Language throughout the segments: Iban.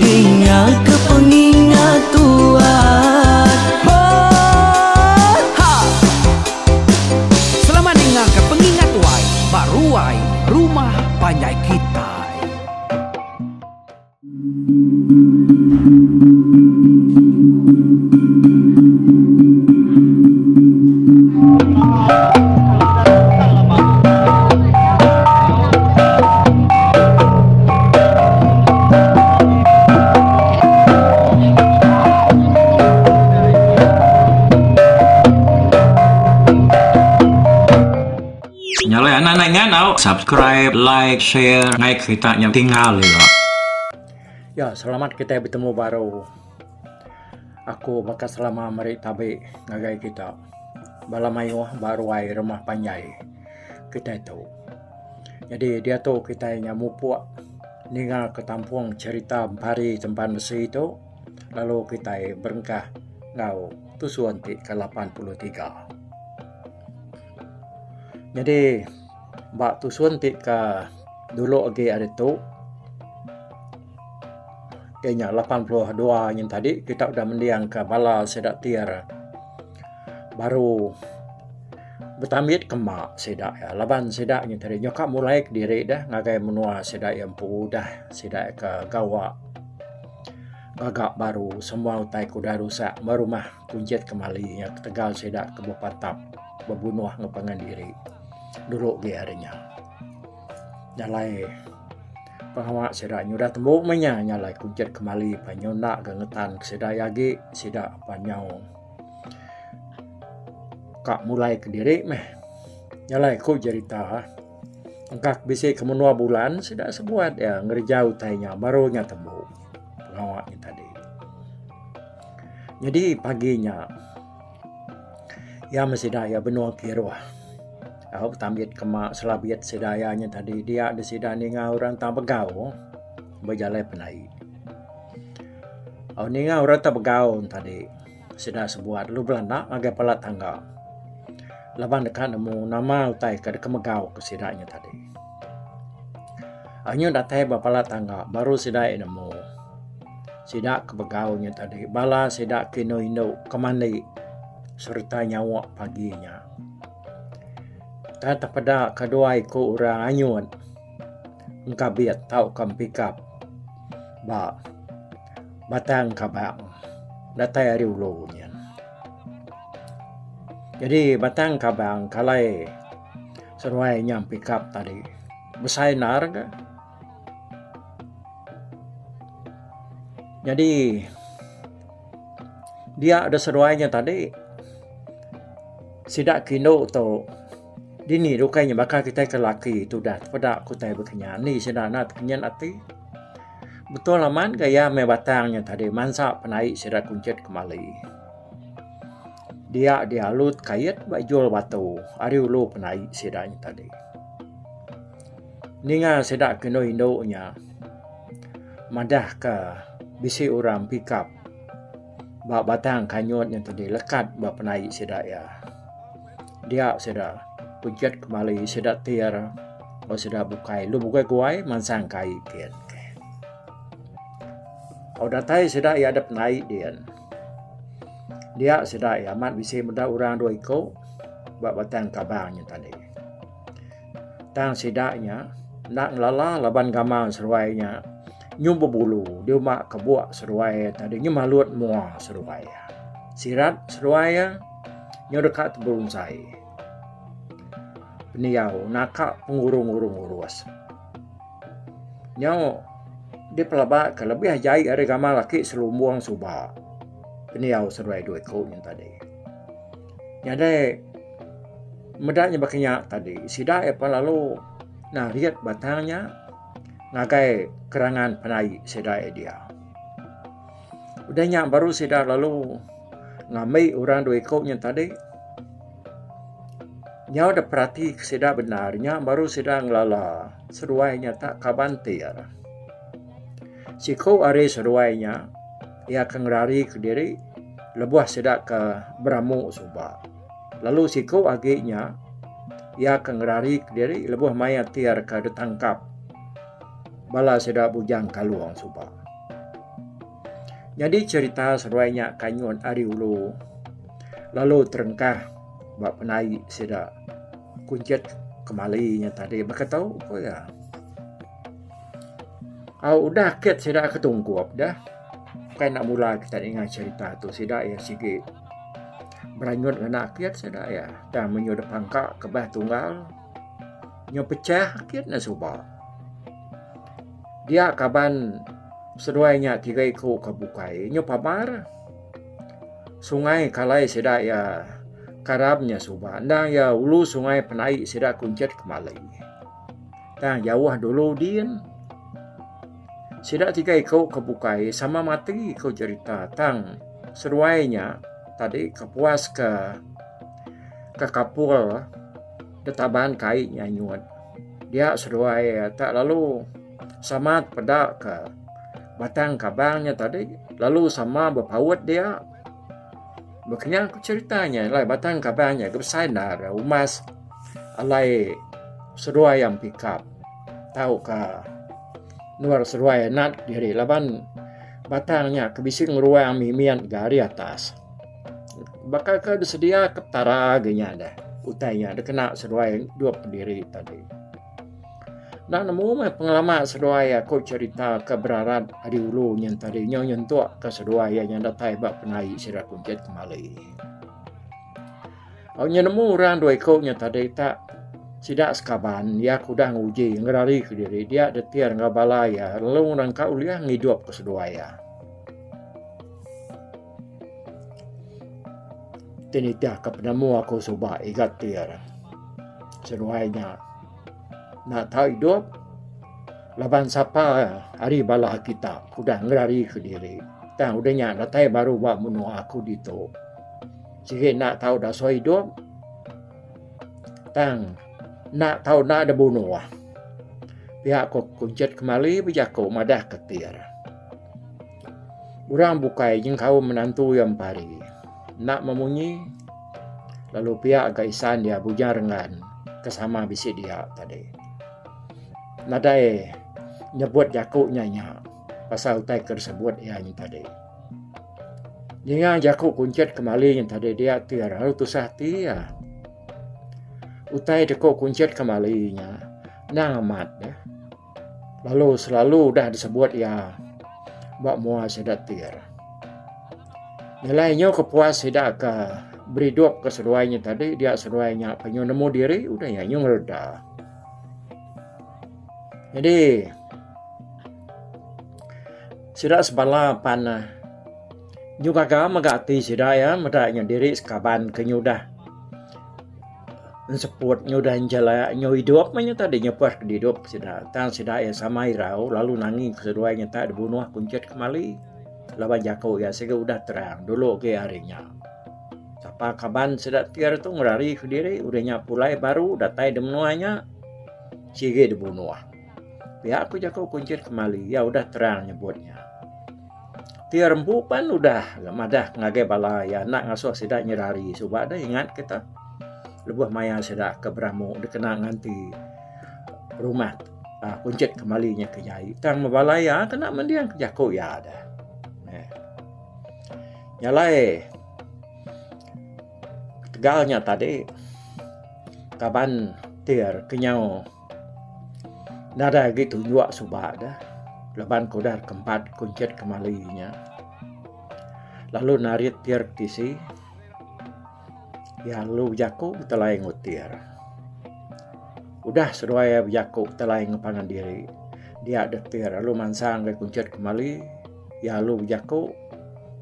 Dingaka pengingat Tuhan. Hot ha. Selamat dingaka pengingat wai ba ruai rumah panjai kitai. Nyalai anak nai nganau subscribe like share ngai kerita nya tinggal ila. Ya selamat kita bertemu baru. Aku baka selama meri tabi ngagai kita. Bala mayuh ba ruai rumah panjai kita tu. Nyadi diatu kitai nya mupuk ninga ke tampung cherita pari tempan besi tu lalu kitai berengkah enggau tusun ti ke lapan puluh tiga. Nyadi ba tusun ti ke dulu agi ari tu iya nya lapan puluh dua nyin tadi kita udah mending ka bala sida ti re. baru betambit ke ema sida iya laban sida ngintu ari nyuka mulai kediri deh ngagai menua sida iya empu udah sida iya ke gawa gaga baru semua utai ke udah rusak meh rumah kunchit kemali iya ketegal sida ke bepatap bebunuh enggau pangan diri dulu agi ari nya. Jalai pengawa sida nya udah tembu meh inya jalai kunchit kemali nyau enda ke ngetan ke sida iya agi sida pan nyau Ka mulai kediri meh. Nyalai ku jerita engka ku bisi ke menua bulan sida sebuat iya ngereja utai nya baru nya tembu pengawa nya tadi. Nyadi pagi nya iya meh sida iya benung kiruh tau betambit kema selabit sida iya nya tadi dia de sida ninga orang tang begau bejalai penaie. Au ninga orang ti begaun tadi sida sebuah dulu bala anak ngagai bala tangga laban deka nemu nama utai ka deka megau ku sida nya tadi. Anyu datai ba bala tangga baru sida nemu sida ke begau nya tadi bala sida ke indu indu ke mandi sereta nyawa pagi nya. Tang tepeda ka dua iku orang anyun. engkabit tauka empikap ba batang kabang datai ari ulu nyin. Jadi batang kabang kalai seruai inya empikap tadi besai endar ga. Jadi dia da seruai nya tadi sida ke indu tu Dini rukai nya baka kitai ke laki tudah tepeda ku utai bekenyah andi sida enda tekenyin ati. Betul amat gaya meh batang nya tadi mansa penai sida kunchit kemali. Dia dialu tekait ba ijul batu ari ulu penai sida nya tadi. Ninga sida ke indu indu nya madah ke bisi orang pikap ba batang kanyut nya tadi lekat ba penai sida iya. Dia sida pejat kemali sida tir lalu sida bukai lu bukai guai mansang kai din. Au datai sida iya dep nai din. Dia sida iya amat bisi meda orang dua iku ba batang kabang nya tadi. Tang sida nya enda ngelala laban gamal seruai nya nyu bebulu di uma kebuk seruai tadi nyu malut mua seruai. Sirat seruai iya. Nyau deka teberungsai. Pendiau naka pengurung-urung urus. Nyau dipelaba ke lebih jai ari gamal aki selumbung suba. Pendiau seduai dua iku nyen tadi. Nyadai meda nya baka nya tadi sida iya pun lalu narit batang nya ngagai kerangan penai sida iya dia. Udah nya baru sida lalu ngambi orang dua iku nya tadi. Nyau da perati ke sida bendar nya baru sida ngelala seduai nya tak kaban ti ira. Siku ari seduai nya iya ke ngerari ke diri lebuh sida ke beramu suba. Lalu siku agi nya iya ke ngerari ke diri lebuh mayar ti ira ke ditangkap bala sida Bujang Kalong suba. Nyadi cherita seruai nya kanyut ari ulu lalu terengkah ba penai sida kunchit kemali nya tadi baka tu ku iya. Au udah kit sida ke tungkup deh kai enda mula kita ninga cherita tu sida iya sigi beranyut ngena kit sida iya tang menyuh dep pangka kebah tunggal. Nya pechah agi ne suba. Dia kaban seduai nya tiga iku ka bukai nya pabar. Sungai kalai sida iya karam nya suba endang iya ulu sungai penai sida kunchit kemali. Tang jauh dulu din. Sida tiga iku ka bukai sama mati ku cherita tang seduai nya tadi kepuas ka ka kapul. Detaban kai nya nyut dia seduai tak lalu sama peda ka batang kabang nya tadi lalu sama bepaut dia bekenyah ku cerita nya iya lah batang kabang nya ke besai enda re umas alai seduai ampi kap tau ka nuar seduai nat diri laban batang nya ke bisi ngeruang mimit ga ari atas. baka ke disedia ke Petara agi nya deh utai nya dikena seduai dua pendiri tadi. Enda nemu meh pengelama seduai aku cerita ke berarat ari ulu nya tadi nyau nyentuk ke seduai iya nya datai ba penai sida kuntit kemali. Au nya nemu orang dua iku nya tadi tak sida sekaban iya ke udah nguji ngerari ke diri dia detir enggau bala iya lalu ngerangka ulih ngidup ke seduai iya. Ti nitihka penemu aku suba iga ti ira seduai nya enda tau idup laban sapa ari bala kita udah ngerarika diri tang udah nya datai baru ba menua aku ditu sigi enda tau daso idup tang enda tau enda da bunoh. Pia ku kunchit kemali bejaku madahka ti ira. Urang bukai nyengkaum menantu iya empari enda memunyi lalu pia ga isan iya Bujang Renggan ke sama bisi dia tadi. Nadai nyebut jaku nya nya pasal utai ke disebut iya nya tadi. Ninga jaku kunchit ke mali nya tadi dia ti lalu tusah ati iya. Utai deko kunchit ke mali nya endang amat. Lalu selalu udah disebut iya ba mua sida tir. Nyelai nyu ke puas sida ke beridup ke seduai nyu tadi dia seduai nya ke nyu nemu diri udah iya nyu ngereda. Jadi sida sebala pan ne nyu gaga mega ati sida iya meda nyu diri sekaban ke nyu udah Enseput nyudah njela nyau idup meh nyentah deh nyepah ke didup sida. Tang sida iya sama irau lalu nangi ke seduai nyentah deh bunuh kunchit kemali. Laban jaku iya sigi udah terang dulu agi hari nya. Sapa kaban sida ti hari tu ngerari ke diri udah nya pulai baru datai deh menua nya sigi deh bunuh. Pia ku jaku kunchit kemali iya udah terang nyebut nya. Ti ari empu pan udah madah ngagai bala iya enda ngasuh sida nyerari suba deh ingat kita lebuh maya sida ke beramu dikena nganti rumah aaa kunchit kembali nya ke jai tang meh bala iya kena mending ke jaku iya deh. Nya alai ketegal nya tadi kaban ti ari kenyau. Nadai agi tunjuk suba deh laban ku udah kempat kunchit kemali inya lalu narit pir tisi iya lalu bejaku betelai ngutir. Udah seduai iya bejaku betelai ngempangan diri dia deh tir lalu mansang deh kunchit kemali iya lalu bejaku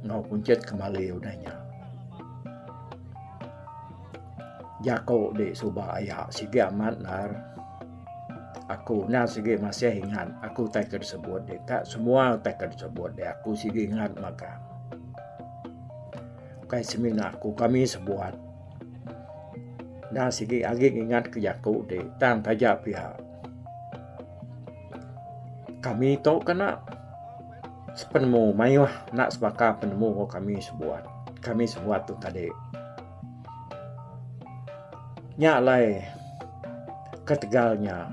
enggau kunchit kemali udah nya. Jaku di suba aya sigi amat ndar aku nya sigi masih ingat aku tai ke disebut di ka semua tai ke disebut di aku sigi ingat mega ukai semina aku kami sebuat nya sigi agi ingat ke jaku di tang taja pia kami tu kena sepenemu mayuh enda sebaka penemu kami sebuat kami sebuat tu tadi. Nya alai ketegal nya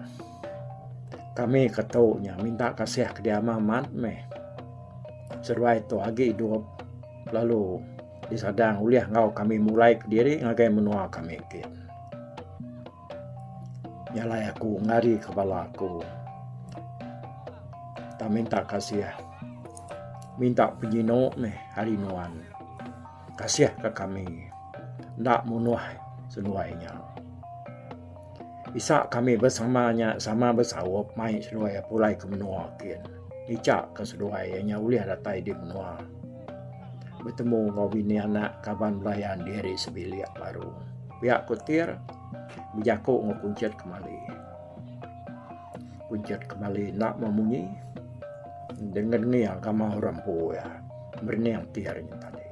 kami ke tu nya minta kasih ke diamah amat meh seduai tu agi idup lalu disadang ulih enggau kami mulai kediri ngagai menua kami ti. Nya alai aku ngari ke bala aku tang minta kasih minta penyino meh ari nuan. Kasih ka kami enda munuh seduai nya. Isa kami bersama nya sama besaup mai seduai pulai ke menua kin. Ija ka seduai nya ulih datai di menua betemu enggau bini anak kaban belayan diri sebilik baru. Pia ku Tir bejaku enggau Kunchit kemali. Uncit kemali enda memunyi dengan ni agama orang empu ya. Merening ti hari ni tadi.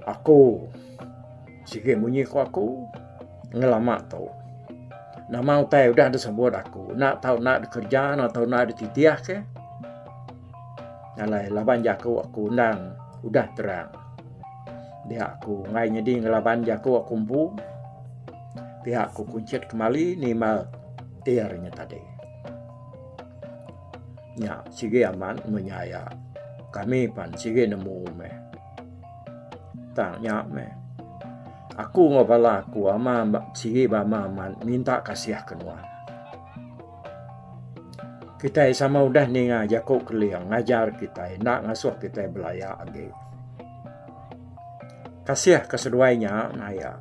Aku sigi munyi ku aku ngelama tu. Nama utai udah disebut aku. Nak tau nak dikerja, nak tau nak dititih ke. Alai laban jaku aku undang udah terang. Dia aku ngai nyedi ngelaban jaku aku empu. pia ku kunchit kemali nimal ear nya tadi. Nya sigi aman munya ya. Kami pan sigi nemu me. Tang nya me. Aku ngo bala aku ama sigi bama aman minta kasih ke nuan. Kita sama udah ninga jaku keling ngajar kita enda ngasuh kita belaya agi. Kasih ke seduai nya naya.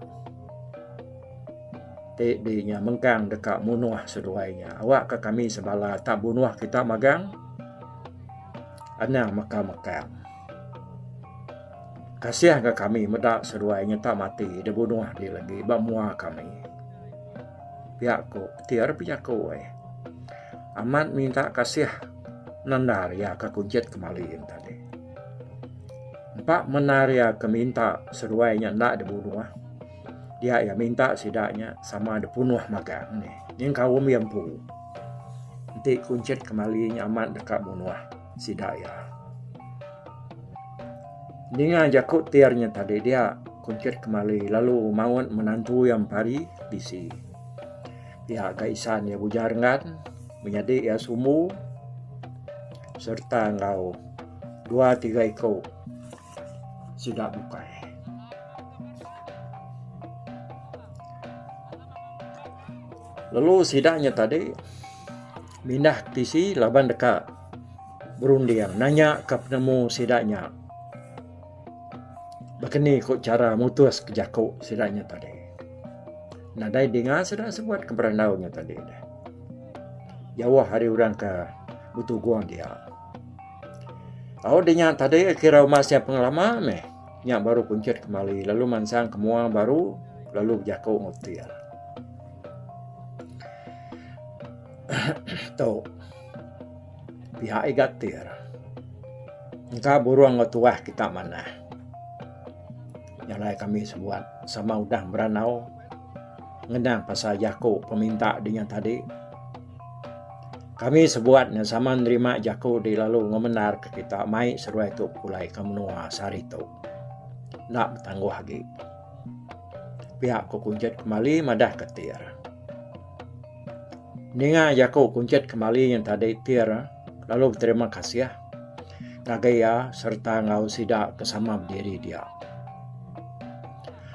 Ti di nya mengkang deka munuh seduai nya. Awak ka kami sebala ta bunuh kita magang anang meka mekang. Kasih ga kami meda seduai nya ta mati di bunuh di legi ba mua kami. Pia ku ti ari pia ku ai. Amat minta kasih nanda iya ka kunchit kemali yen tadi. Empa mendar iya ke minta seruai nya enda dibunuh, dia iya minta sida nya sama dipunuh magang nih. Ngin kaum iya empu enti kunchit kemali nya amat deka munuh sida iya. Ninga jaku ti ari nya tadi dia kunchit kemali lalu maut menantu iya mempari bisi. Pia ka isan iya Bujar Ngan menyadi iya sumbu serta enggau. Dua tiga iko sida bukai. Lalu sida nya tadi mindah tisi laban deka berunding nanya ke penemu sida nya bakani ko cara mutus ke jako sida nya tadi. Nadai dinga sida sebut ke berandau nya tadi. Jauh hari orang ke betugung dia. Au di nya tadi kira uma sia pengelama meh nya baru kunchit kemali lalu mansang ke mua baru lalu bejaku enggau ti iya. tu pihak iga ti iya engka burung enggau tuah kita manah nyalai kami sebuat sama udah meranau. ngenang pasal jaku peminta dingan tadi. Kami sebuat ne sama nerima jaku di lalu ngemendar ke kita mai seruai tu pulai ke menua sehari tu. Enda betangguh agi. Pia ku kunchit kembali madah ke Tir. Ninga jaku kunchit kembali yang tadi Tir lalu beterima kasih ngagai iya sereta enggau sida ke sama bediri dia.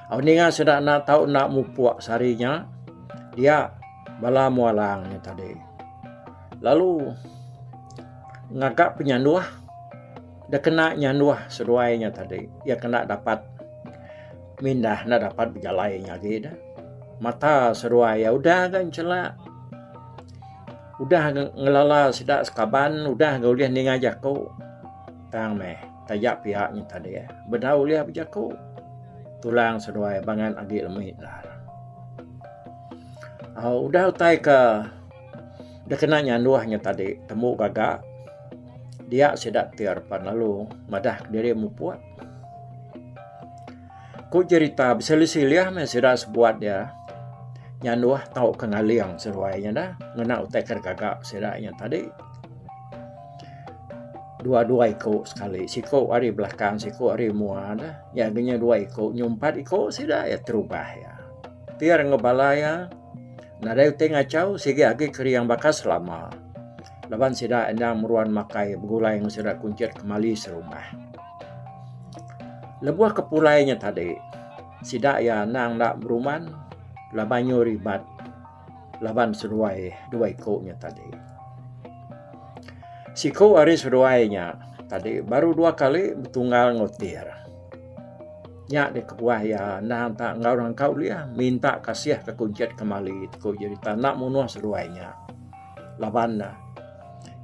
Au ninga sida enda tau enda mupuk sehari nya dia bala mua lang nya tadi lalu ngaga penyanduh da kena nyanduh seduai nya tadi iya ke enda dapat mindah enda dapat bejalai nya agi ne mata seduai iya udah ga nchelak udah ga ngelala sida sekaban udah ga ulih ninga jaku tang meh. Taja piak nyin tadi eh. Beda ulih bejaku. Tulang seduai bangan agi lemi endar. Uh, udah utai ke dia kena nyanduh nya tadi temu gaga dia sida tir pan lalu madah diri mupuk ku cerita besilih-silih me sida sebuat dia nyanduh tau ke ngaling seruai nya dah ngena utai ke gaga sida nya tadi dua dua iko sekali siko ari belakang siko ari mua dah jaku nya dua iko nyau empat iko sida iya terubah iya pir enggau bala iya nadai ti ngachau sigi agi keriang baka selama laban sida enda meruan makai begulai enggau sida kunchit kemali serumah. Lebuh ke pulai nya tadi sida iya endang enda beruman laban nyau ribat. laban seduai dua iku nya tadi. Siku ari seduai nya tadi baru dua kali betunggal enggau tir. Nya deh kebuah iya endang tak enggau orang engkau ulih minta kasih ke kunchit kemali ku jerita enda munuh seduai nya. Laban ne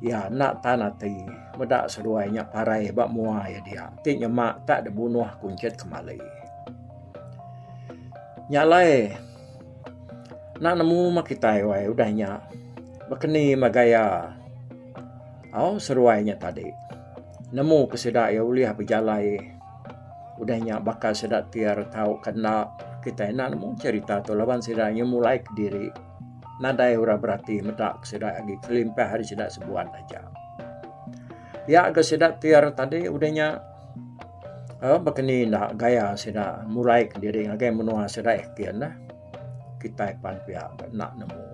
iya enda tan ati meda seduai nya parai ba mua iya dia ti nyema tak dibunuh kunchit kemali. Nya alai. Enda nemu mah kitai wai udah nya baka ni mah gaya au seruai nya tadi nemu ke sida iya ulih bejalai udah nya baka sida ti ira tau ke enda kitai enda nemu cerita tu laban sida inya mulai kediri nadai ira berati meda ke sida agi kelimpah ari sida sebuat aja. Pia ke sida ti ira tadi udah nya. Aaa baka ni enda gaya sida murai ke diri ngagai menua sida eh kin neh kitai pan pia ke enda nemu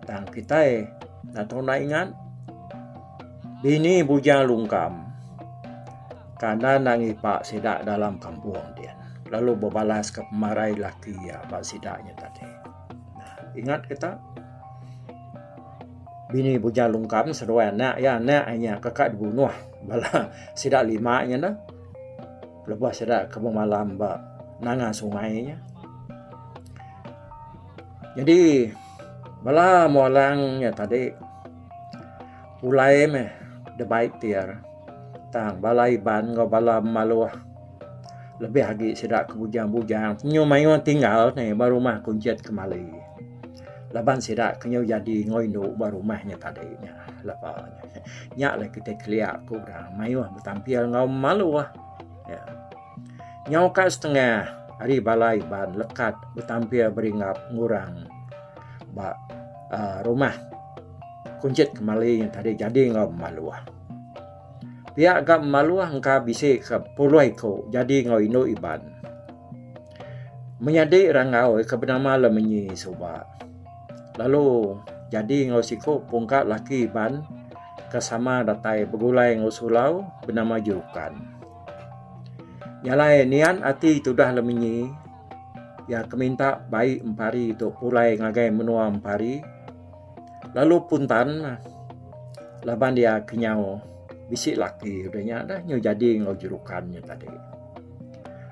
tang kitai enda tau enda ingat dini bujang lungkam kanan angi ipa sida dalam kampung ti lalu bebalas ka pemarai laki iya ba sida nya tadi. Nah, ingat ke tak? Bini Buja Lungkam seduai anak ya, anak inya keka dibunuh bala sida lima inya dah. Lebuh sida ke bemalam ba nanga sungai inya. Jadi bala mua lang nya tadi pulai meh the bike tiar tang bala Iban enggau bala Maluh Lebih agi sida ke bujang-bujang penyu mayuh tinggal ni ba rumah kunchit kemali. Laban sida ke nyu jadi enggau indu ba rumah nya tadi nya lepa nya alai kitai kelia ku orang mayuh betampil enggau maluh. Ya. Nyau ka setengah ari bala Iban lekat betampil beringgap ngurang ba uh, rumah kunchit kemali yang tadi jadi enggau maluh. Pia ga maluh engka bisi ke puluh iku jadi enggau indu Iban. Menyadi rangau ke benama Lemenyi suba lalu jadi enggau siku pungka laki Iban ke sama datai begulai enggau sulau benama Jurukan. Nya alai niat ati tudah Lemenyi iya ke minta bai Empari tu pulai ngagai menua Empari. lalu puntan laban dia kenyau bisi laki udah nya dah nyu jadi enggau jerukan nya tadi.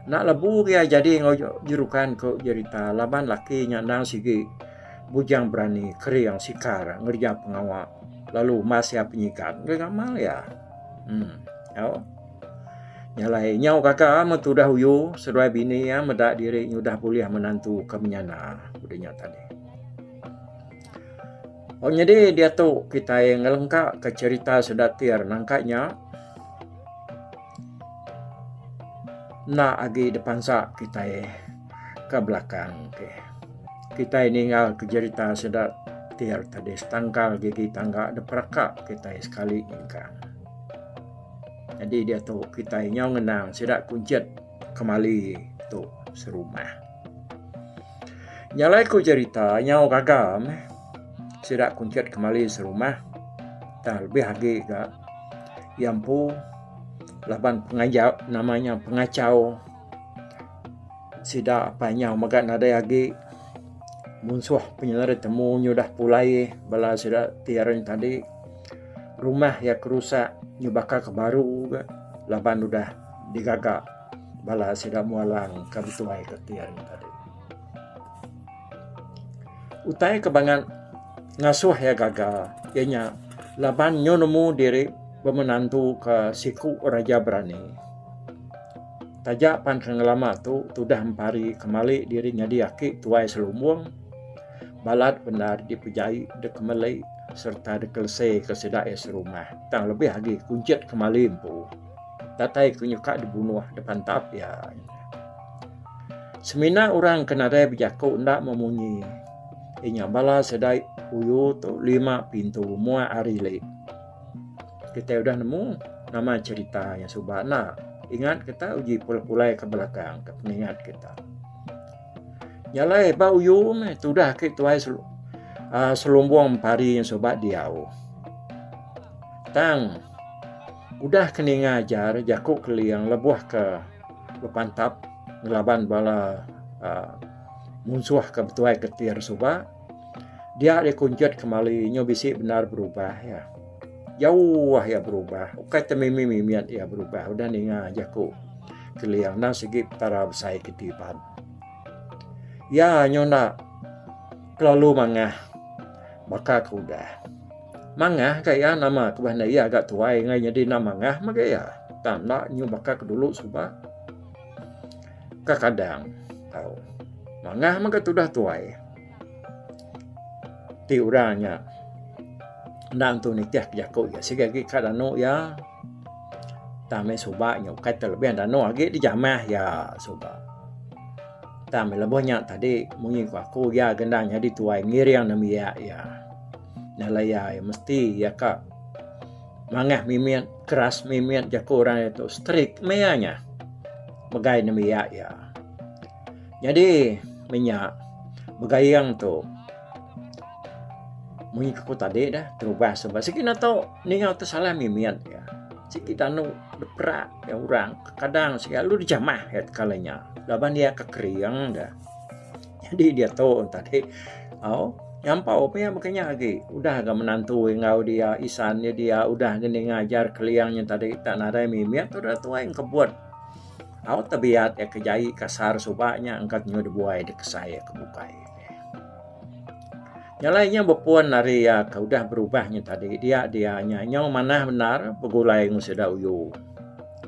Enda lebu agi jadi enggau jerukan ku jerita laban laki nya endang sigi bujang berani kering sikar ngereja pengawa lalu mas iya penyigan ngagai ngamal iya. Um au nya alai nyau gaga men tudah uyu seduai bini iya meda diri nyu udah bulih menantu ke menyana udah nya tadi. Pak nyadi diatu kitai ngelengka ka cherita sedatir nangka nya enda agi dipansa kitai ka belakang ti. Kitai ninga ka cherita sedatir tadi setangkal gigi tangga diperaka kitai sekali nyengka. Nyadi diatu kitai nyau ngenang sida kunchit kemali tu serumah. Nyalai ku jerita nyau gaga meh sida kunchit kemali serumah tang lebih agi ga iya empu laban pengajar nama nya pengachau sida apai nyau mega nadai agi munsuh penyelai temu nyudah pulai bala sida ti aren tadi rumah iya kerusak nyubaka ke baru ga laban udah digaga. Bala sida mulang ka bitui ka ti hari nya tadi. Utai ke bangat ngasuh iya gaga iya nya laban nyu nemu diri bemenantu ka siku raja berani. Taja pan ke ngelama tu tudah empari kemali diri nyadi aki tuai selumbung balat bendar dipejai dep kemeli sereta dep kelese ka sida iya serumah tang lebih agi kunchit kemali empu. datai ku nyuka dibunuh depan tap iya. Semina orang ke nadai bejaku enda memunyi inya bala sida uyu tu lima pintu mua hari leh. Kita udah nemu nama cerita iya suba enda. Ingat kita uji pulai-pulai ke belakang ke pengingat kita. Jalai ba uyu meh tudah agi tuai ah selumbung pari iya suba diau. Tang Udah ke ninga ajar jaku Keling lebuh ke bepantap ngelaban bala munsuh ke betuai ketir suba, dia deh kunjut kemali nyu bisi bendar berubah iya. Jauh iya berubah, ukai te mimit mimit iya berubah udah ninga jaku Keling endang sigi Petara besai ke tiban. Iya nyu enda kelalu mangah baka ke udah. Mangah ka iya nama ke bah enda iya ga tuai ngai nyadi enda mangah mega iya tang enda nyu baka ke dulu suba kekadang tau mangah mega tudah tuai ti orang nya enda nentu nitih ke jaku iya sigi agi ka danu iya tang meh suba nya ukai ti lebih danu agi dijamah iya suba tang meh lebuh nya tadi munyi ku aku iya ga enda nyadi tuai ngiring ngembiak iya. Nya laya iya mesti iya ka mangah mimit keras mimit jaku orang iya tu strik meh iya nya megai nembiak iya. Nyadi meh nya begaing tu mung ku tadi dah terubas ba sigi enda tau ninga tu salah mimit iya. Sigi tanu diperak orang kadang selalu dijamah iya teka inya laban iya ka kering dah. Jadi dia tu tadi. Oh, nyampau pia makanya lagi. Udah ga menantu enggau dia isan dia dia udah gini ngajar keliangnya tadi tak nadai mimit tu dah tuai kebut. Au tebiat ya kejai kasar subaknya angkat nyu dibuai dikesai ke bukai. Yang lainnya berpun dari ya ke udah berubahnya tadi dia dia nya nyu manah benar begulai ngu sida uyu.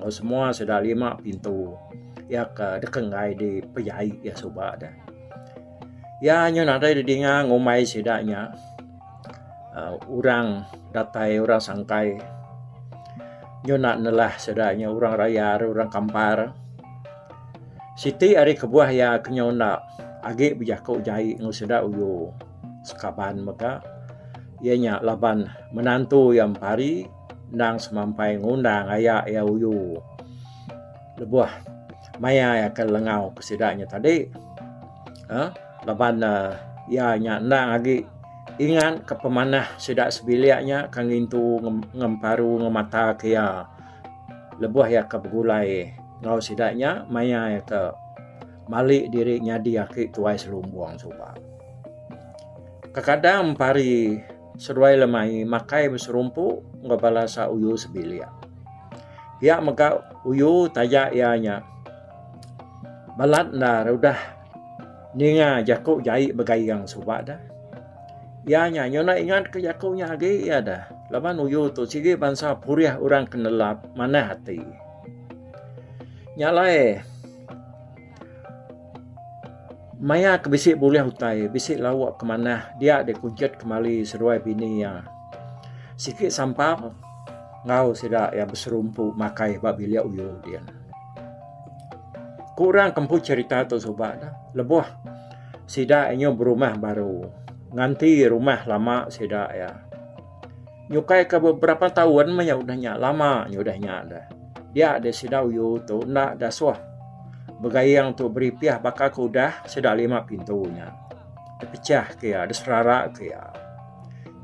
Semua sida lima pintu iya ke deka enggai dipejaie iya suba deh. Iya nyun nadai didinga ngumbai sida nya orang datai orang sangkai nyun enda nelah sida nya orang raya ri orang kampar. Siti ari kebuah iya ke nyau enda agi bejaku jaie enggau sida uyu sekaban mega iya nya laban menantu iya mempari. Endang semampai ngundang aya iya uyu lebuh maya iya ke lengau ke sida nya tadi uhh laban ne iya nya endang agi ingat ka pemanah sida sebilik nya ka ngintu ngemparu ngemata ke iya lebuh iya ke begulai enggau sida nya maya iya ke mali diri nyadi aki tuai selumbung suba. Kekadang pari. Seduai lemai makai beserumpu enggau bala sa uyu sebilik. Pia mega uyu taja iya nya balat enda re udah ninga jaku jai begayeng suba deh. Iya nya nyuna ingat ke jaku nya agi iya deh laban uyu tu sigi bansa purih orang ke nelap manah ati. Nya alai. Maya ke bisi bulih utai, bisi lauk ke manah dia deh kujut kemali seduai bini iya. Siki sampang enggau sida iya beserumpu makai ba bilik uyuh dia. Ku orang ke empu cherita tu suba ne lebuh sida nyuh berumah baru nganti rumah lama sida iya. nyukai ke beberapa taun meh iya udah nya lama iya udah nya deh dia deh sida uyu tu enda deh suah begaing tu beripih baka ke udah sida lima pintu nya depechah ke iya deserara ke iya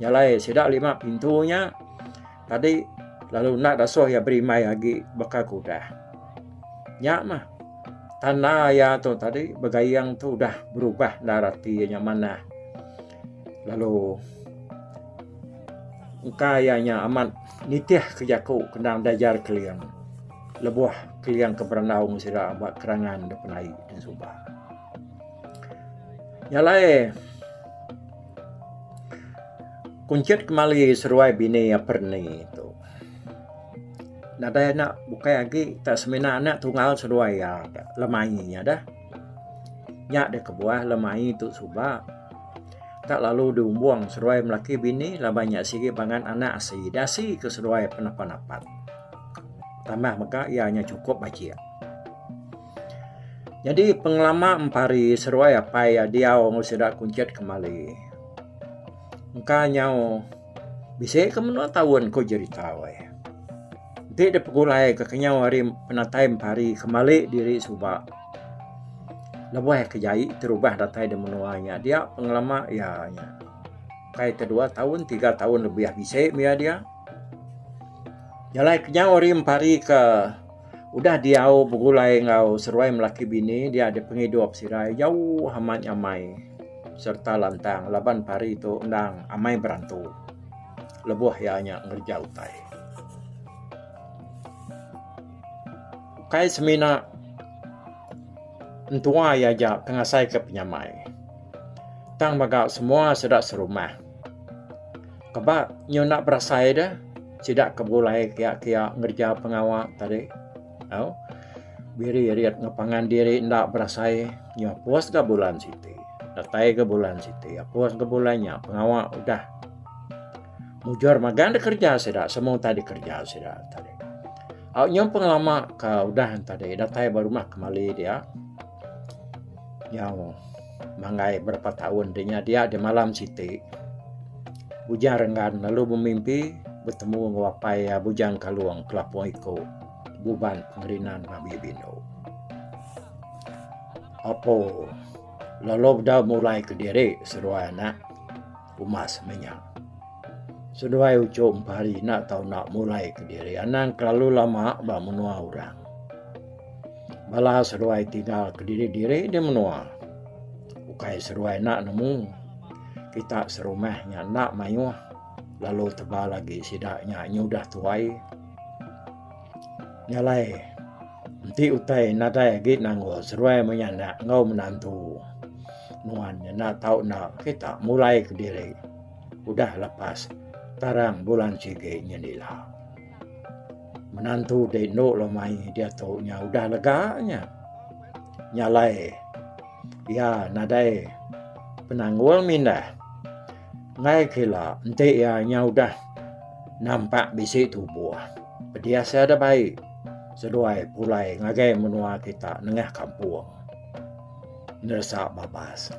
jalai sida lima pintu nya tadi lalu enda deh suah iya berimbai agi baka ke udah nya meh tanda iya tu tadi begaing tu udah berubah enda rati iya nya manah. Lalu engka iya nya amat nitihka jaku kendang Dajar Keling lebuh Keling ke berandau meng sida ba kerangan da penaie da suba. Nya alai kunchit kemali seruai bini aper ni tu. Nadai anak bukai agi tak semina anak tunggal seduai iya lemaie nya deh. Nya deh kebuah lemai tu suba tak lalu di umbong seduai melaki bini laban nya sigi pangan anak asi ida asi ke seduai penapan apat. Tambah mega iya nya sukup bajik. Nyadi pengelama empari seduai apai iya diau enggau sida kunchit kemali. Engka nyau Bisi ke menua taun ko jerita weh. Enti deh pegulai ke kenyau hari penatai pari kembali diri suba lebuh ke jai terubah datai de menua nya dia pengelama iya nya ukai te dua taun tiga taun lebih bisi mia dia jalai kenyau hari pari ke Udah diau begulai enggau seruai melaki bini dia di pengidup sirai jauh amat nyamai sereta lantang laban pari tu endang amai berantu lebuh iya nya ngereja utai. Ukai semina entua iya aja ke ngasaika penyamai tang mega semua sida serumah. Keba nyunak berasai dia sida ke begulai kia-kia ngereja pengawa tadi tau biri rit ngepangan diri enda berasai nya pus ga bulan siti datai ga bulan siti pus ga bulan nya pengawa udah mujur magang da kereja sida semua utai dikereja sida tadi au nyau pengelama ka udah tadi datai ba rumah kemali dia Nyau manggai berapa taun deh nya dia deh malam siti Bujang Renggan lalu bemimpi betemu enggau apai iya Bujang Kalong Kelapong Iko Buban Pengerinan Babie Bino. Apo lalu deh mulai kediri seduai anak. Uma sema nya. Seduai uchu empa hari ina tau enda mulai kediri anang kelalu lama ba menua orang. Bala seduai tinggal kediri-diri di menua. Ukai seduai enda nemu. Kita serumah nya enda mayuh lalu tebal agi sida nya nyudah tuai. Ngalai enti utai nadai agi nanggur seruai maya enda enggau menantu nuan nya enda tau enda kita mulai kediri udah lepas tarang bulan sigi nyadi nya ila. Menantu ti endo lalu mai diatu nya udah lega nya nyalai iya nadai penanggul mindah. Enggai kila enti iya nya udah nampak bisi tubuh. Pedih sia da bai seduai pulai ngagai menua kita nengah kampung. Neresa babas.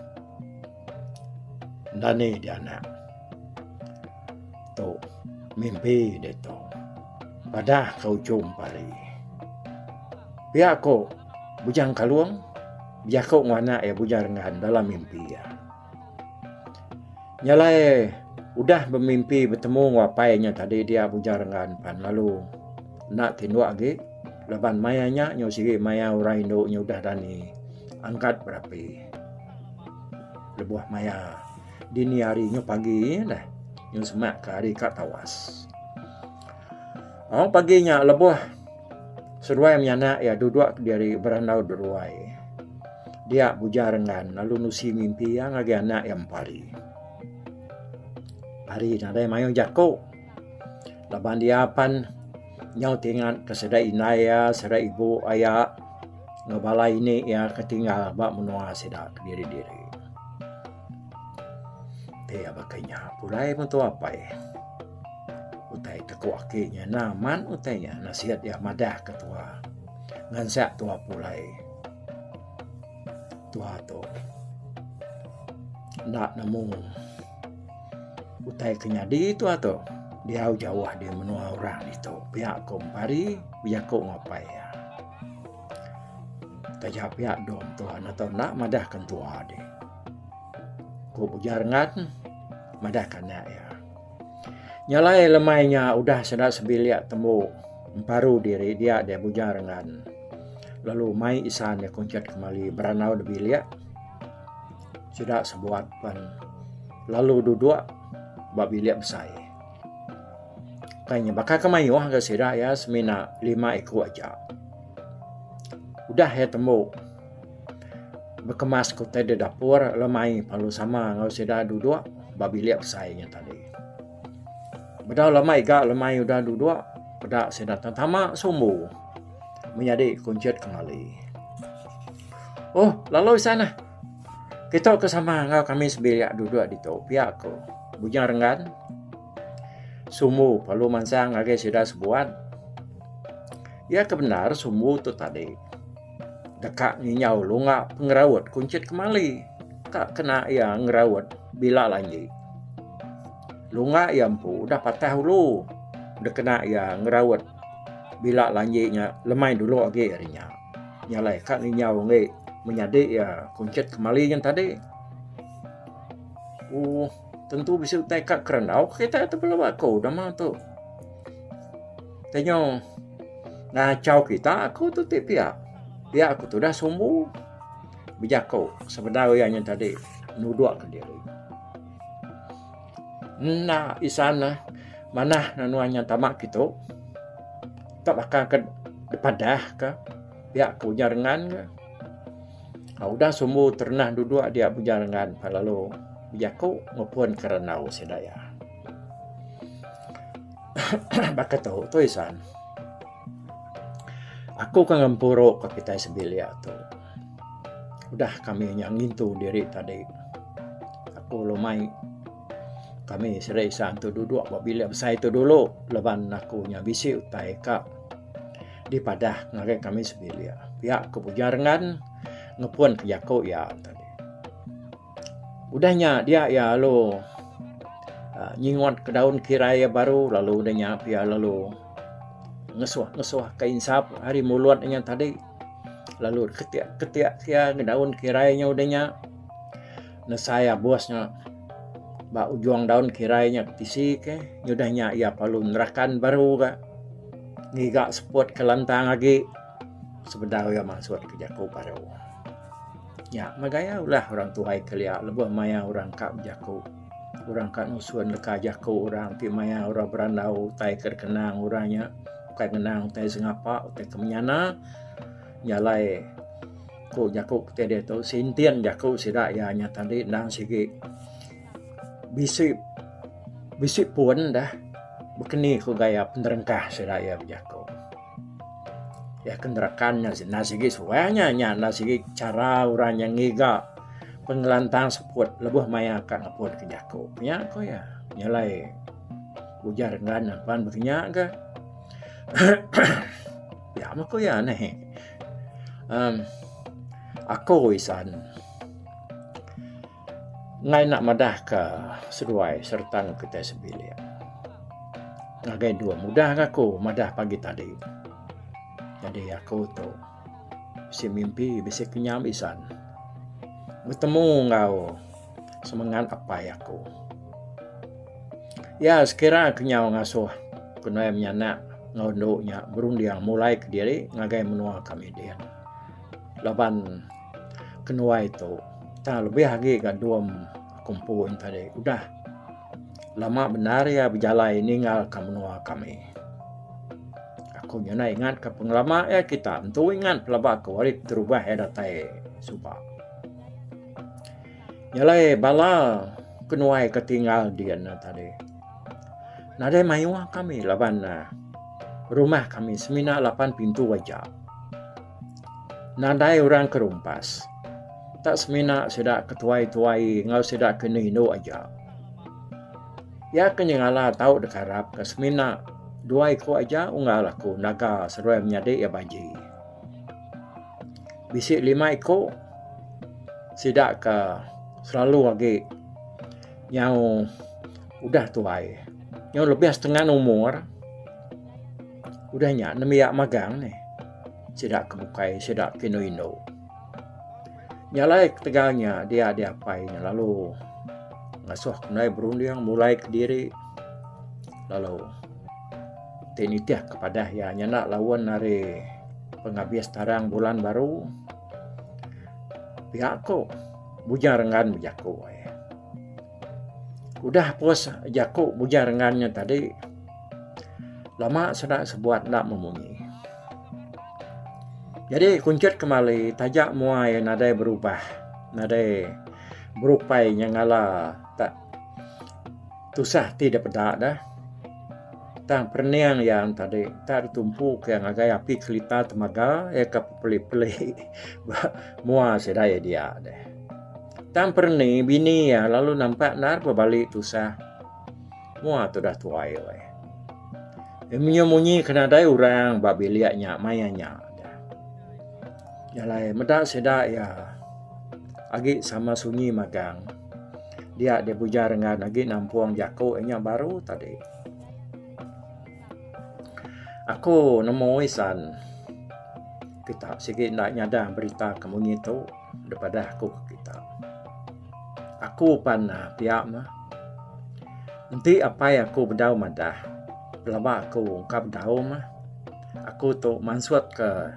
Enda ni dianak. Tu mimpi ditu. Padah ke ujung pari. Pia ko Bujang Kalong bejaku enggau anak iya Bujang Rengan dalam mimpi iya. Nya alai udah bemimpi betemu enggau apai inya tadi dia bujar enggau aku pan lalu enda tinduk agi laban maya nya nyau sigi maya orang indu nya udah dani angkat berapi lebuh maya dini hari nyau pagi neh nyau semak ka ari ka tawas. Au pagi nya lebuh. Seduai menyanak iya duduk kediri berandau deruai. Dia buja renggan lalu nusi mimpi iya ngagai anak iya mempari. Hari nadai mayuh jaku laban dia pan nyau ti ingat ke sida indai iya, sida ibu iya enggau bala ini iya ke tinggal ba menua sida kediri-diri. Ti iya baka inya pulai mutu apai. Utai ke ku aki inya enda amat utai inya nasihat iya madah ke tuha. Ngansak tuha pulai. Tuha tu enda nemu utai ke nyadi tuha tu diau jauh di menua orang ditu pia ku mempari bejaku enggau apai iya. Taja pia dom tuan atau nak madah kan tua deh. Ku bujar ngat madah kan nak ya. Nyalai lemai nya udah senda sebilik tembu emparu diri dia deh bujar ngat. Lalu mai isan deh kuncat kemali beranau de bilik. Sida sebuat pan lalu duduk ba bilik besai. Kai nya baka ke mayuh ga sida iya semina lima iku aja. Udah iya tembu bekemas ke utai da dapur lalu mai lalu sama enggau sida duduk ba bilik besai nya tadi. Bedau lama iga lemai udah duduk peda sida tetama sumbu menyadi kunchit kemali. Oh lalu seh neh. Kitok ke sama enggau kami sebilik duduk ditu pia ko Bujang Renggan. Sumbu perlu mansang ngagai sida sebuan. Iya ke bendar sumbu tu tadi deka nginyau lunga pengeraut kunchit kemali ka kena iya ngeraut bila lanji. Lunga iya empu udah patah ulu dikena iya ngeraut bila lanji nya lemai dulu agi ari nya. Nya alai ka nginyau enggai menyadi iya kuncit kemali nyen tadi. Uh, tentu bisi utai ka kerandau ke kita tu belu aku nama tu. Tenyo ngacau kita aku tu ti pia. Pia aku tu dah sumbu. Bejako sebedau iya nyen tadi nudukka diri. Enda isan ne manah nua inya tama kitu. Tok baka ke dipadah ke pia ke ujar ngan ne. Aaa udah sumbu terendah duduk dia ujar ngan ne lalu bejaku ngepun ke randau sida iya. Aaa baka tu tu isan. Aku ke ngempuru ka kitai sembilik tu. Udah kami nya ngintu diri tadi aku lalu mai kami seri isan tu duduk ba bilik besai tu dulu laban aku nya bisi utai ka dipadah ngagai kami sebilik pia ku Bujang Rengan ngepun ke jaku iya tadi. Udah nya dia iya lalu uhh nyingut ke daun kirai iya baru lalu udah nya pia lalu ngesuh ngesuh ka insap ari mulut inya tadi. lalu ketiak ketiak sia ngedaun kirai nya udah nya nesai abus nya ba ujung daun kirai nya ke tisi ke udah nya iya perlu nerakan baru ga ngiga seput ke lantang agi sebedau iya masut ke jaku baru. Nya mah gaya ulah orang tuai kelia lebuh maya orang ka bejaku. Orang ka nusun leka jaku orang ti maya orang berandau utai ke dikenang orang nya bukai ngenang utai sengapa utai ke menyana nya alai ku jaku ti ditu sinting jaku sida iya nya tadi endang sigi bisi bisi pun dah baka ni ku gaya penerengkah sida iya bejaku. Iya ke neraka nya enda sigi suah nya nya enda sigi chara orang nya ngiga pengelantang seput lebuh maya ka ngepun ke jaku nya ku iya nyelai ujar ngan ne pan bisi nya ke pia meh ku iya neh um ako isan. Enggai enda madahka seduai sereta enggau kitai sebilik. Ngagai dua mudahka aku madah pagi tadi. Nyadi aku tu bisi mimpi bisi kenyam isan betemu enggau semengat apai aku. Iya sekira kenyau ngasuh ku nuan menyanak enggau endu nya berunding mulai kediri ngagai menua kami din. Laban. kenuai tu tang lebih agi gak dom kumpon tadi udah lama bendar iya bejalai ninggal ke menua kami aku nyau ina ingat ke pengelama iya kita entu ingat pelaba ke hari keterubah iya datai suba jalai bala kenuai ke tinggal dian nya tadi nadai mayuh kami laban rumah kami semina lapan pintu aja. Nadai orang ke rumpas. Tak semina sida ke tuai-tuai enggau sida ke enda indu aja. Iya ke nyengala tau dikarap ke semina dua iku aja unggal aku ngaga seruai menyadi iya baji. Bisi lima iku sida ke selalu agi nyau udah tuai nyau lebih setengah umur. Udah nya nembiak magang nih. Sida ke bukai sida ke indu indu. Nya alai ketegal nya dia diapai nya lalu ngasuh ke mendai berunding mulai ke diri lalu ti nitih ke padah iya nyanda lawen ari pengabis tarang bulan baru pia ko Bujang Renggan bejaku. Udah puas jaku Bujang Rengan nya tadi, lama sida sebuat enda memunyi. Jadi kunchut kemali taja mua iya nadai berubah, nadai berupai nya ngala tak tusah ti dep eda deh. Tang perening iya tadi enda ditumpu ke ngagai api kelita temaga iya ke pepeli-peli ba mua sida iya dia deh. Tang perni bini iya lalu nampak endar bebali tusah. Mua tudah tuai weh. Imenyu munyi ke nadai orang ba bilik nya maya nya. Jalai meda sida iya agi sama sunyi magang. Dia dia bujar enggau agi nampung jaku inya baru tadi. Aku nemu isan kita sigi enda nyadang berita ke munyi tu. Deh padah aku ke kita. Aku pan uhh pia meh. Enti apai aku bedau madah pelaba aku engka bedau meh. Aku tu mansut ke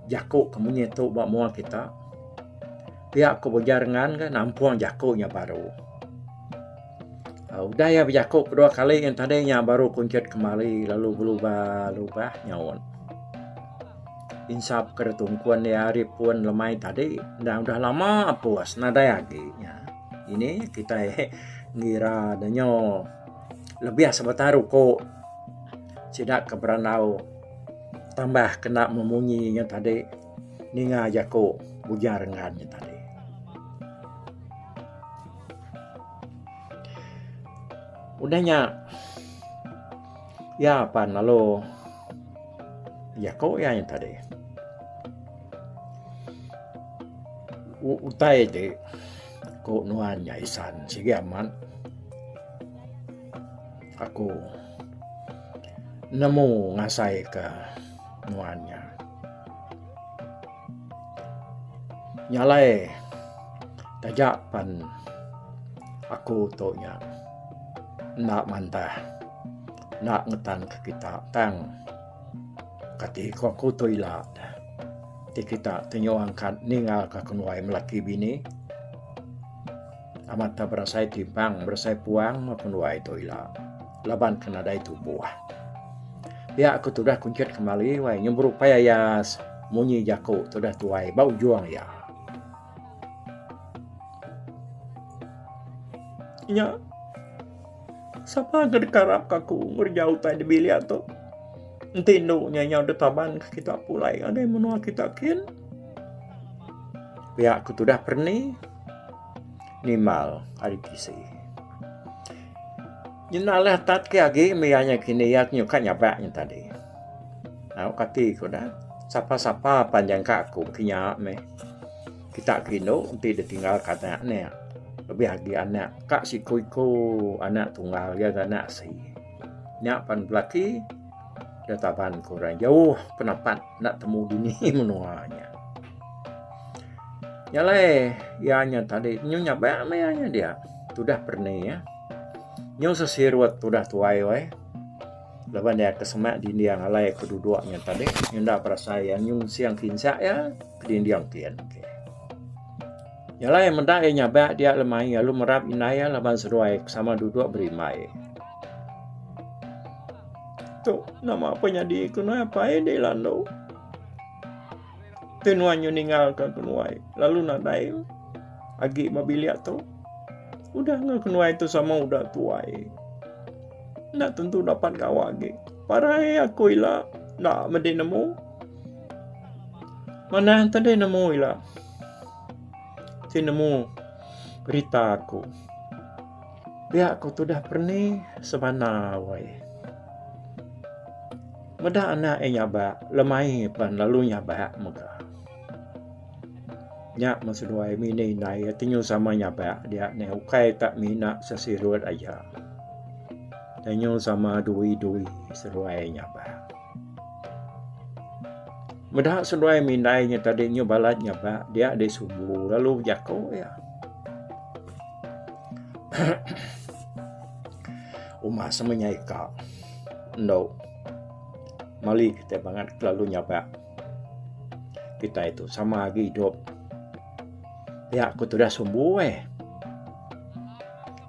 jaku ke munyi tu ba menua kita. Pia ku belajar ngan ke nampung jaku nya baru. Udah iya bejaku kedua kali ngan tadi nya baru kunchit kemari lalu belubah lubah nyaut. Insap ke tungkun iya ari pun lemai tadi enda udah lama pus nadai agi nya. Ini kitai ngira ne nyo lebih sebetar uko sida ke berandau tambah kena memunyi nya tadi ninga jaku ujar ngaran nya tadi. Udah nya iya pan lalu jaku iya nya tadi. Utai ti ku nuan nya isan sigi amat aku nemu ngasai ka nuan nya. Nya alai taja pen aku tu nya enda mantah enda ngetan ke kita tang kati ku aku tu ila ti kita ti nyuang ka ninga ka kenuai laki bini amat tau berasai timpang berasai puang kenuai tu ila. laban ke nadai tumbuh. Pia aku tudah kunchit kemali wai nyemburu pai ayas munyi jaku tudah tuai ba ujung iya. Nya sapa ke dikarap ka aku ngerja utai di bilik tu? Enti indu nya nyau ditaban ke kita pulai ngagai menua kita kin. Pia aku tudah perni nimbal ari kisi. Nyinal leh tat ke agi meh iya nya kini iya nyu ka nyabak nya tadi. Au kati ku dah. Sapa sapa pan nyangka aku baka nya meh. Kita ke indu enti ditinggal ka anak ne. Lebih agi anak ka siku iku anak tunggal iya ga anak asi. Nya pan belaki. Ke taban ke orang jauh penapat enda temu dini menua nya. Nya alai iya nya tadi nyu nyabak meh iya nya dia. Tudah perni ya. Nyu sesirut tudah tuai weh. Laban iya ke semak dinding alai ke duduk nya tadi nyu enda berasai iya nyu sing kinsa iya ke dinding tin. Nya alai meda iya nyabak dia lemai lalu merap indai iya laban seduai sama duduk berimbai. Tu nama apa nyadi ku nuai apa ai di landu. Tu nuai nyu ninggal ke ku nuai lalu nadai agi ba bilik tu. Udah ngau ku nuai tu sama udah tuai. Nak tentu dapat gawa agi. Parai aku ila nak medi nemu Manah enti deh nemu ila. Ti nemu berita aku. Pia ku tudah perni semana wai. Meda anak iya nyaba lemai pan lalu nyaba mega. Nya meh seduai mini indai iya ti nyau sama nyaba dia ne ukai ta mina sesirut aja. Nyau sama dui dui seduai nyaba. Meda seduai mih indai nya tadi nyau balat nya ba dia deh subu lalu bejaku iya. Uma sama nya ika endo meli kitai bangat kelalu nyabak kitai tu sama agi idup. Pia ku tudah sumbu eh.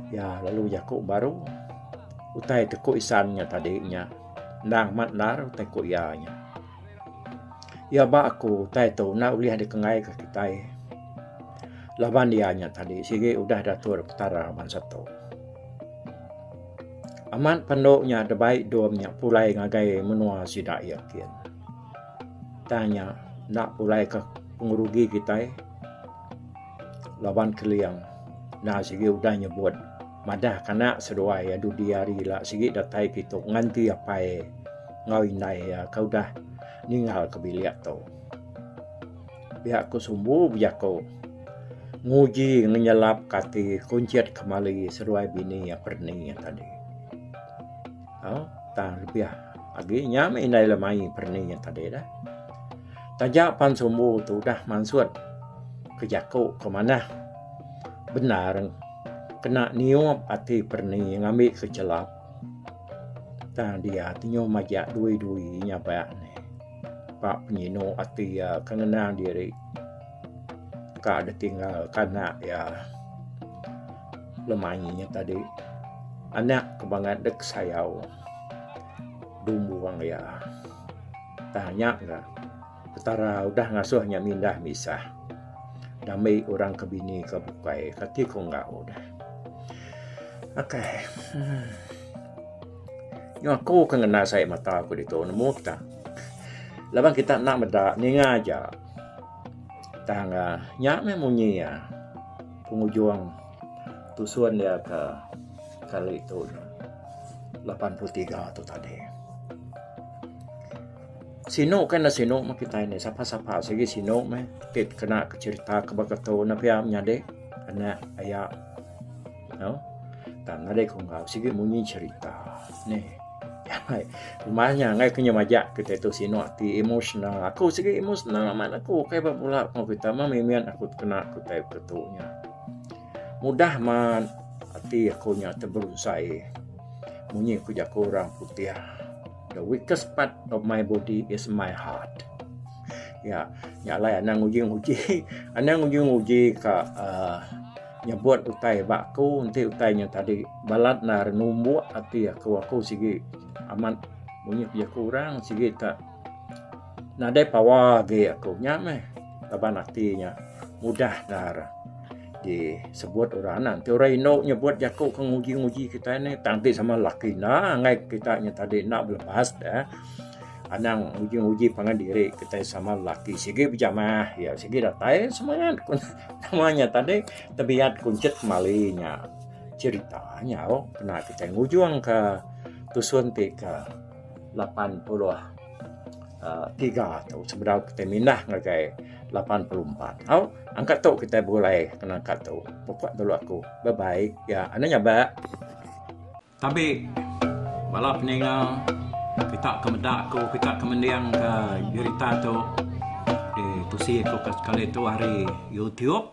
Iya lalu bejaku baru utai ti ku isan nya tadi nya. Endang amat endar utai ku iya nya. Iya ba aku utai tu enda ulih dikengai ka kitai laban iya nya tadi sigi udah diatur Petara bansa tu. Amat pendu nya da bai dom nya pulai ngagai menua sida iya kin. Tang nya enda pulai ka pengerugi kitai. laban Keling enda sigi udah nyebut madah ke anak seduai iya dudi hari ila sigi datai ke itu nganti apai enggau indai iya ke udah ninggal ke bilik tu. Pia ku sumbu bejaku nguji ngenyelap ke ati kunchit kemali seduai bini iya perni iya tadi. Au tang lebih agi nya meh indai iya perni iya tadi dah. Taja pan sumbu tu udah mansut ke jaku ke manah bendar kena niup ati perni ngambi ke chelap tang dia ti nyau majak dui-dui nyabak ne ba penyinu ati iya ke ngenang diri ka ditinggal ka anak iya lemangi nya tadi anak ke bangat dek sayau dumbung iya. Tang nya ga Petara udah ngasuh nya mindah misah. Dami orang ke bini ke bukai kati ku enggau dah. Okay. Hmm. Nya aku ke ngena sai mata aku ditu nemu kita. Laban kita nak meda ninga aja. Tang uh, nya meh munyi ya. Pengujung tusun dia ke kali tu. lapan puluh tiga tu tadi. Sinu ke enda sinu meh kitai nih. Sapa sapa sigi sinu meh ti kena ke cherita ke ba keto ne pia menyadi anak aya no. Tang nadai ku enggau sigi munyi cherita nih. Ai rumah nya angai ke nya majak kitai tu sinu ati emotional. Aku sigi emotional amat aku kai ba pula pengawa kitai meh mimit aku ti kena kitai ke tu nya. Mudah amat ati aku nya teberunsai munyi ku jaku orang putih the weakest part of my body is my heart. Ya, nya alai anang uji-uji, anang uji-uji ka uh, nyebut utai ba aku enti utai nya tadi balat nar numbuk ati aku aku sigi amat munyi ku jaku orang sigi tak Nadai pawa agi aku nya meh laban ati nya mudah ndar disebut orang anak enti orang inu nyebut jaku ke nguji nguji kitai nih tang ti sama laki enda angai kita nya tadi enda belebas deh anang nguji nguji pangan diri kitai sama laki sigi bejamah iya sigi datai semangat ku nama nya tadi tebiat kunchit kemali nya cherita nyau kena kitai ngujung ka tusun ti ka. 83 tu sebedau kitai mindah ngagai 84. Au angka tu kitai begulai kena angka tu. Pupuk neh tulu aku. Bye bye. Ya anu nya ba. Tabi bala peninga kita ke meda aku kita ke mending ke berita tu ditusi ku sekali tu ari youtube.